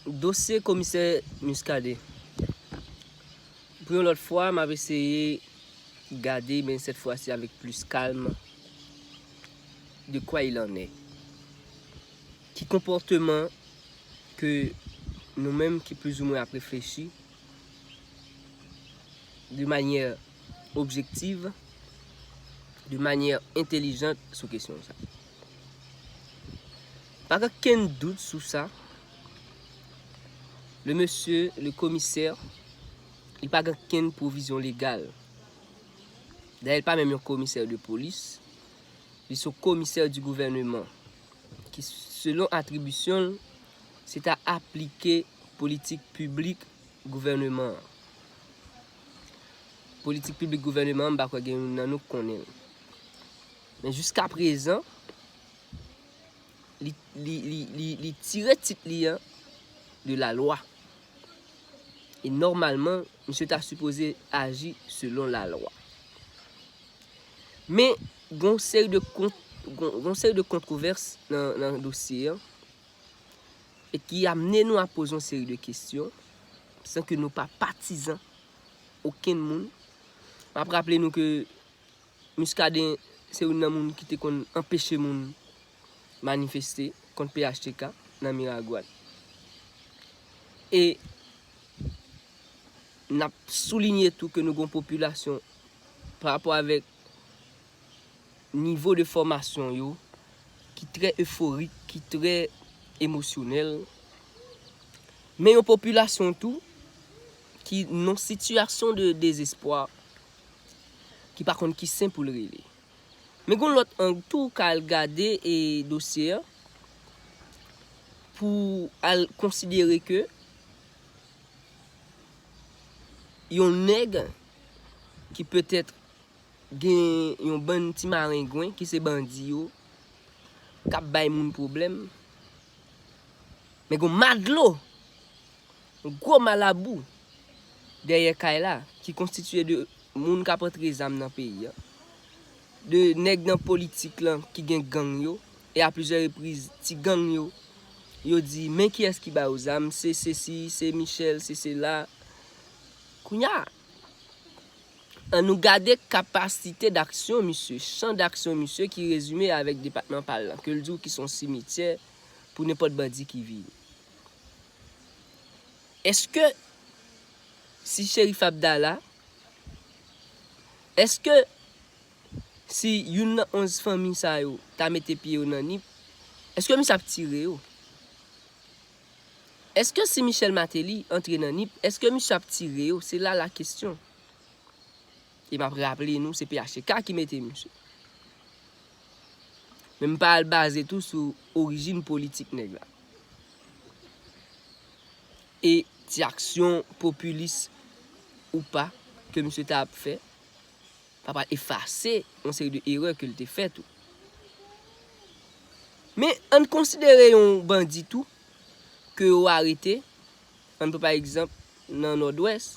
Dosye komisè Muscadin. Pou yon lòt fwa m ap eseye gade men sèt fwa si avèk plis kalm de kwa il en est. Ki konpòteman ke nou menm ki plizoumwen ap reflechi de manyè objektiv, de manyè entelijant sou kesyon sa. Pa gen kenn dout sou sa, le mesye le komisè, li pa gen kenn pwovizyon legal. Dayè li pa menm yon komisè de polis, li se yon komisè di gouvèneman ki selon atribisyon l, se ta aplike politik piblik gouvèneman an. Politik piblik gouvèneman an m pa kwè gen youn nan nou k konnen l. Men jiskaprezan, li tire tit li an de la lwa. E nòmalman, misye ta sipoze aji selon la lwa. Men, gon seri de kont, gon seri de kontrovès nan dosye an, e ki amnen nou a poze yon seri de kestyon, san ke nou pa patizan okenn moun. M ap raple nou ke Muscadin se youn nan moun ki te konn anpeche moun manifeste kont phtk nan Miragoâne. E n ap soulinye tou ke nou gen yon popilasyon pa rapò avèk nivo de fòmasyon yo ki trè eforik, ki trè emosyonèl. Men yon popilasyon tou ki nan yon sitiyasyon de dezespwa ki pa konn ki sen pou l rele. Men gen yon lòt ang tou ou ka al gade dosye an pou al konsidere ke yon nèg ki petèt gen yon bann ti marengwen ki se bandi yo k ap bay moun pwoblèm men gen yon madlo! Gwo malabou dèyè kay la ki konstitiye de moun kap antre zam nan peyi an, de nèg nan politik lan ki gen gang yo e a plizyè repriz ti gang yo, yo di men kiyès ki ba yo zam se sesi, se Michel, se sela. Kounya an nou gade kapasite daksyon misye, chan daksyon misye ki rezime avèk depatman pa l lan ke l di w ki son simityè pou nenpòt bandi ki vini. Eske si Sherif Abdala, eske si youn nan 11 fanmi sa yo ta mete pye yo nan Nip, eske misye ap tire yo? Eske si Michel Martelly antre nan Nip, eske misye ap tire yo? Se la la kesyon. E map raple nou se phtk ki mete misye. Men m pa al baze tou sou orijin politik nèg la. E ti aksyon popilis ou pa ke misye ta ap fè pa pral efase yon seri de erè ke l te fè tou. Men an n konsidere yon bandi tou ke yo arete an n pran pa egzanp nan Nòdwès.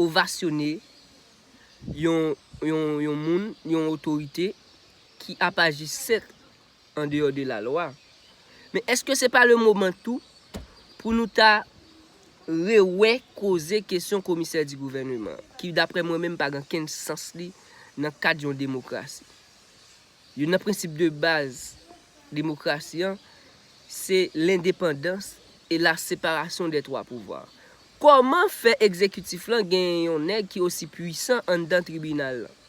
ovasyone yon moun, yon otorite ki ap aji sèt an deyò de la lwa. Men eske se pa le moman tou pou nou ta rewè koze kesyon komisè di gouvèneman ki daprè mwen menm pa gen kenn sans li nan kad yon demokrasi. Youn nan prensip de baz demokrasi an se lendepandans e la separasyon dè twa pouvwa. Kòman fè egzekitif lan genyen yon nèg ki osi pwisan anndan tribinal lan?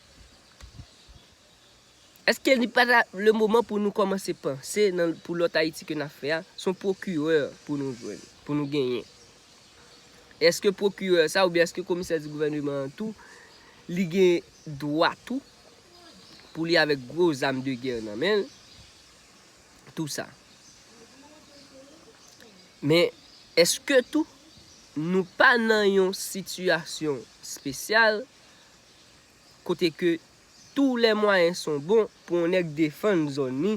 Eske li pa ta le moman pou nou kòmanse panse nan pou lòt Ayiti ke n ap fè a, s on pwokirè pou nou jwenn, pou nou genyen? Eske pwokirè sa oubyen eske komisè di gouvèneman an tou li gen dwa tou? pou li avèk gwo zam de gè nan men l, tou sa. Men, èske tou nou pa nan yon sitiyasyon spesyal kote ke tou lè mwayen son bon pou yon nèg defann zòn li,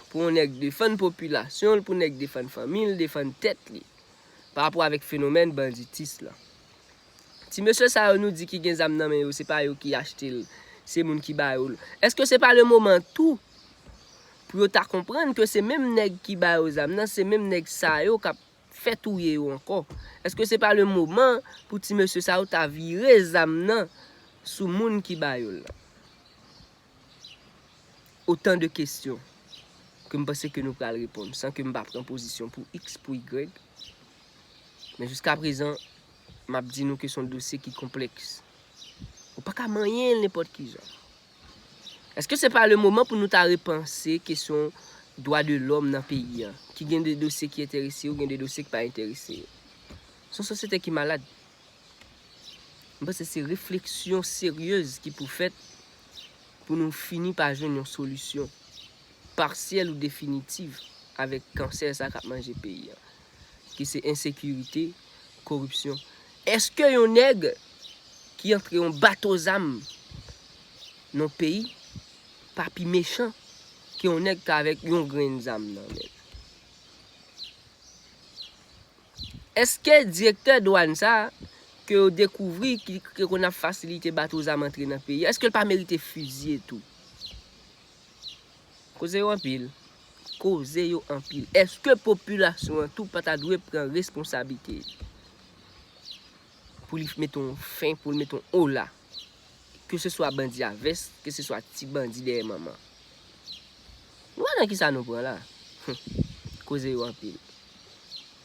pou yon nèg defann popilasyon l, pou yon nèg defann fanmi l, defann tèt li, pa rapò avèk fenomèn banditis lan? Ti mesye sa yo nou di ki gen zam nan men yo se pa yo ki achte l se moun ki ba yo l eske se pa le moman tou pou yo ta konprann ke se menm nèg ki ba yo zam nan se menm nèg sa yo kap fè touye yo ankò eske se pa le moman pou ti mesye sa yo ta vire zam nan sou moun ki ba yo l lan otan de kesyon ke m panse ke nou pral reponn san ke m pa pran pozisyon pou iks pou ygrèg men jiska prezan. M ap di nou ke se yon dosye ki konplèks. Ou pa ka manyen l nenpòt ki jan. Eske se pa le moman pou nou ta repanse kesyon dwa de lòm nan peyi an, ki gen de dosye ki enterese yo, gen de dosye ki pa enterese yo. Se yon sosyete ki malad. M panse se refleksyon seryez ki pou fèt pou nou fini pa jwenn yon solisyon parsyèl ou definitiv avèk kansè sa k ap manje peyi an. ki se ensekirite, koripsyon. Eske yon nèg ki antre yon bato zam nan yon peyi pa pi mechan ke yon nèg ki avèk yon grenn zam nan men l? Eske direktè dwàn sa a ke yo dekouvri ki te konn ap fasilite bato zam antre nan peyi a, eske l pa merite fizye tou? Koze yo anpil, koze yo anpil. Eske popilasyon an tou pa ta dwe pran responsabite li? Pou li mete yon fen, pou li mete yon ola. Ke se swa bandi a vès, ke se swa ti bandi dèyè manman. Nou wè nan kisa nou pran la? Humm, koze yo anpil.